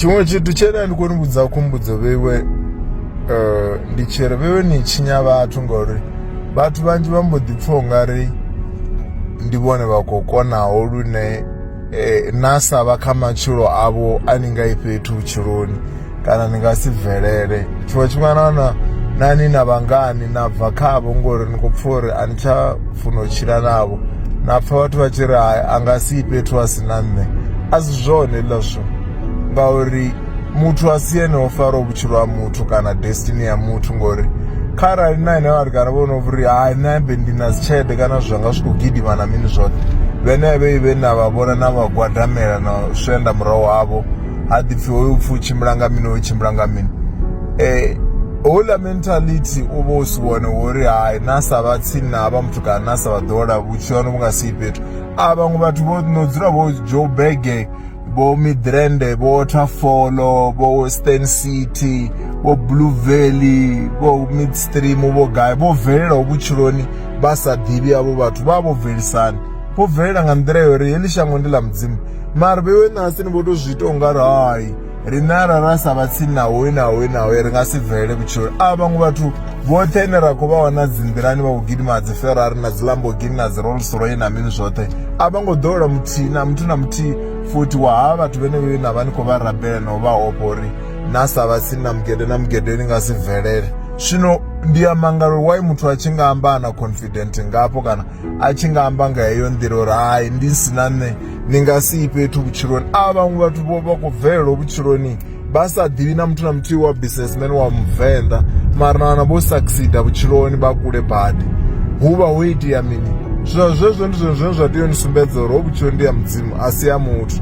tshiṅwe tshithu tshele a ndi koni vhudza khumbudzo vheiwe um ndi tshiri vheiwe ni tshinya vhathu ngauri vhathu vhanzhi vha mbo ḓi pfha ungari ndi vhone vha khou konaho lune um na sa vha kha matshilo avho a ni nga i fhethu vhutshiloni kana ni nga si bvelele tshiṅwe tshifhinga na wana nani na vhangani na bva khavho ngori ni khou pfha uri a ni tsha funa u tshila navho na pfha vhathu vha tshi ri hai a nga si fhethu a si na nṋe a si zwone hezwiḽa zwithu ngauri muthu a si ene o faraho vhutshilo ha muthu kana destiny ya muthu ngori kharali na ene vhathu kana vhono vhuri hai nṋe ambe ndi na dzitshelede kana zwithu zwanga zwi khou gidima na mini zwoṱhe vhenevhe vhe na vha vhona na vha gwadamela na swenda murahu havho ha ḓipfhi hoyu upfhi u tshimbila nga mini hoyu tshimbila nga mini um houḽa mentality u vha u si wone wo ri hai na sa vha tsini na havha muthu kana na sa vha ḓola vhutshilo hanu vhu nga si fhethu a vhaṅwe vhathu vho no dzula vho joe bege vho midrand vho waterfall vho stan city vho blue valley vho midstream vho gai vho bvelelaho vhutshiloni vha sa ḓivhi avho vhathu vha vho bvelisani vho bvelela nga nḓila ya uri heḽi shango ndi ḽa mudzimu mara vheiwe nṋe hasini vho to zwi ita u nga ri hai riṋe arali ra sa vha tsini na hoyu na hoyu na hoyu ri nga si bvelele vhutshiloni a vhaṅwe vhathu vhoṱhe ine ra khou vha wana dzi nḓilani vha khou gidima dzi ferrari na dzi lambogini na dzi rolls roy na mini zwoṱhe a vha ngo ḓowela muthihi na muthu na muthihi futhi wa ha vhathu vhene vhe na vha ni khou vha rabela na u vha ofha uri na sa vha tsini na mugede na mugede ni nga si bvelele zwino ndi ya mangalo why muthu a tshi nga amba a na confident ngafho kana a tshi nga amba nga heyo nḓila uri hai ndi si na nṋe ni nga si i fhethu vhutshiloni a vhaṅwe vhathu vho vha khou bvelelwa vhutshiloni vha sa ḓivhi na muthu na muthihi wa businessman wa muvenḓa mara na wana vho succeda vhutshiloni vha kule badi hu vha ho itea mini zwino zwezwo ndi zwone zwine zwa tea u ni sumbedza uri ho vhutshiloni ndi ya mudzimu a si ya muthu